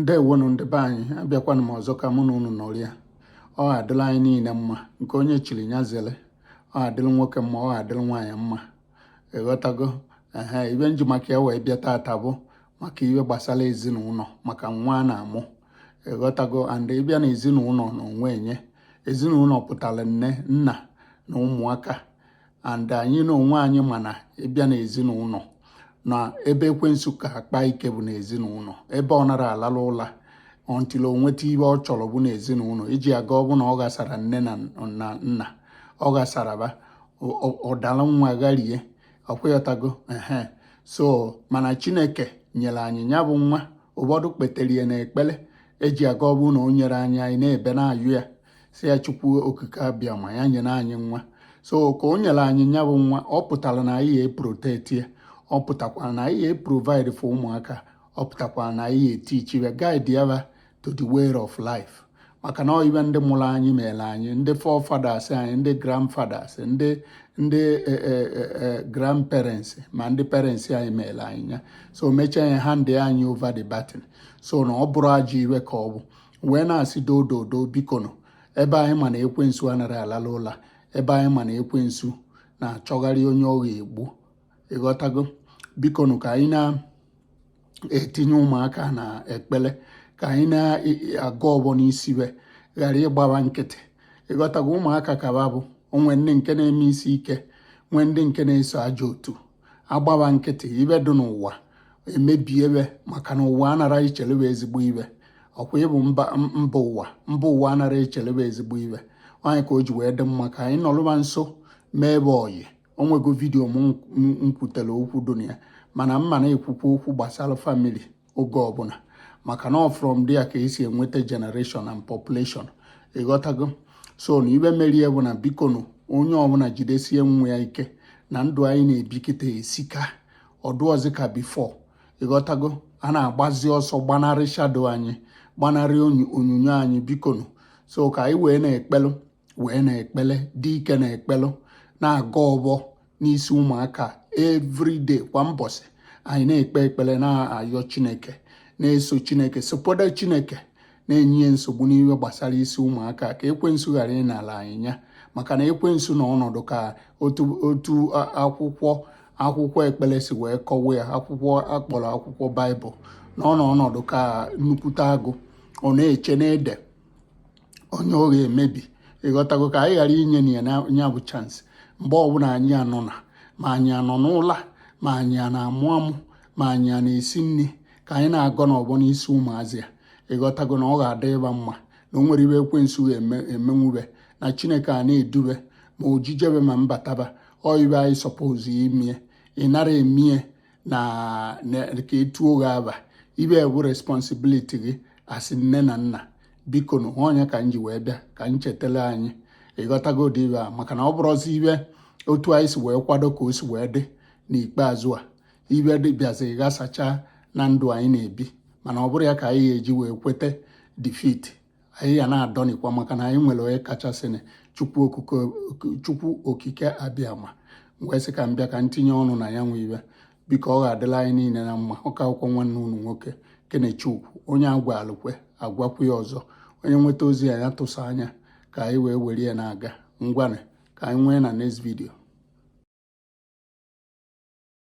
ndewonu ndị be anyị abịakwana m ọzọ ka mụ na unu nọrịa ọ adịla anyị niile mma nke onye chiri ya zele ọ adịla nwoke mma ọ adịla nwaanyị mma ịghọtago ehe ibe m ji maka ya wee bịa taata bụ maka ibe gbasara ezinụlọ maka nwa a na-amụ ịghọtago and ị bịa na ezinụlọ na onwe nye ezinụlọ pụtara nne nna na ụmụaka and anyị na onwe anyị ma na ị bịa n'ezinụlọ na ebe ekwensu ka akpa ike bụ n'ezinụlọ ebe ọ nara alala ụla until o nweta ibe ọ chọrọ bụ n'ezinụlọ iji aga ọ bụ na ọ ghasara nne na nna ọ ghasara ba ọ dala nwa garie ọkwa ịghọtago ehe so mana chineke nyere anyị ya bụ nwa ụfọdụ kpetere ya na ekpere eji aga ọ bụ na o nyere anyị anyị na-ebe na-ayọ ya si ya chukwu okike abịama ya nyere anyị nwa so ka o nyere anyị nya bụ nwa ọ pụtara na anyị eprotect ya ọ pụtakwara na anyị eprovide for ụmụaka ọ pụtakwara na anyị eteach ya guide ya to the way of life maka na ibe ndị mụrụ anyị mere anyị ndị forefathers anyị ndị grandfathers ndị ndị e, e, e, grandparents ma ndị parents anyị mere anyị ya so mechaa ya hand anyị over the baton so na ọ bụrụ ajọ iwe ka ọ bụ wee na-asị doo doo doo bikonụ ebe anyị ma na ekwensu anara alala ụla ebe anyị ma na ekwensu na-achọgharị onye ọ ga-egbu ịghọtago bikonụ ka anyị na-etinye ụmụaka na ekpere ka anyị na-agọ ọbọ n'isi be ghara ịgba ba nkịtị ịghọtago ụmụaka ka ba bụ o nwee ndị nke na-eme isi ike nwee ndị nke na-eso ajọ otu agba ba nkịtị ibe dị n'ụwa emebie be maka na ụwa anara echele be ezigbo ibe ọkwa ị bụ mba ụwa mba ụwa anara echele be ezigbo ibe ọ nya ka o ji wee dị mma ka anyị nọlụ ba nso mee be ọyị o nwego video m kwutere okwu dụ na ya mana m ma na-ekwukwa okwu gbasara family oge ọbụla maka na from there ka e si enweta generation and population ịghọtago so na ibe mere ya bụ na bikonu onye ọbụla jidesie nwa ya ike na ndụ anyị na-ebi kịta esika ọ dụọzi ka before ịghọtago a na-agbazi ọsọ gbanarị shadow anyị gbanarị onyinyo anyị bikonu so ka anyị wee na-ekpelụ wee na ekpele dị ike na-ekpelụ na-agọ ọbọ n'isi ụmụaka everyday kwa mbọsị anyị na-ekpe ekpele na-ayọ chineke na-eso chineke sopoda chineke na-enye ya nsogbu n'ihe gbasara isi ụmụaka ka ekwensu ghara ịnala anyị nya maka na ekwensu na ọ nọdụ ka otu akwụkwọ akwụkwọ ekpere si wee kọwa ya akwụkwọ a kpọrọ akwụkwọ baịbụl na ọ na ọ nọdụ ka nnukwute agụ ọ na-eche na-ede onye ọ ga-emebi ịghọtago ka anyị ghara inye na ya nya bụ chance mgbe ọbụla anyị anọ na ma anyị anọ n'ụla ma anyị a na-amụ amụ ma anyị a na-esi nri ka anyị na-agọnụ ọbọ n'isi ụmụazị a ịghọtago na ọ ga-adị ba mma na o nwerọ ibe ekwensu ga-emenwu be na chineke a na-edu be ma ojije be ma mbata ba ọ ibe anyị suppose imie ịnara emie na ka etuo gị aba ibe bụ responsibility gị as nne na nna bikonu ọ nya ka m ji wee bịa ka m chetele anyị ịghọtago ụdị ibe a maka na ọ bụrọzi ibe otu anyị si wee kwado ka o si wee dị n'ikpeazụ a ibe dị bịazi ghasacha na ndụ anyị na-ebi mana ọ bụrọ ya ka anyị ga-eji wee kweta defeat anyị ya na-adọnikwa maka na anyị nwere onye kachasịnụ chukwu okike abịama wee sị ka m bịa ka m tinye ọnụ na ya bụ ibe biko ọ ga-adịla anyị niile na mma ọ ka bụkwa nwanne unu nwoke kenechukwu onye agwalụ kwe agwakwu ya ọzọ onye nweta ozi ya ya tụsa anya ka anyị wee were ya na-aga ngwanụ ka anyị nwee na next video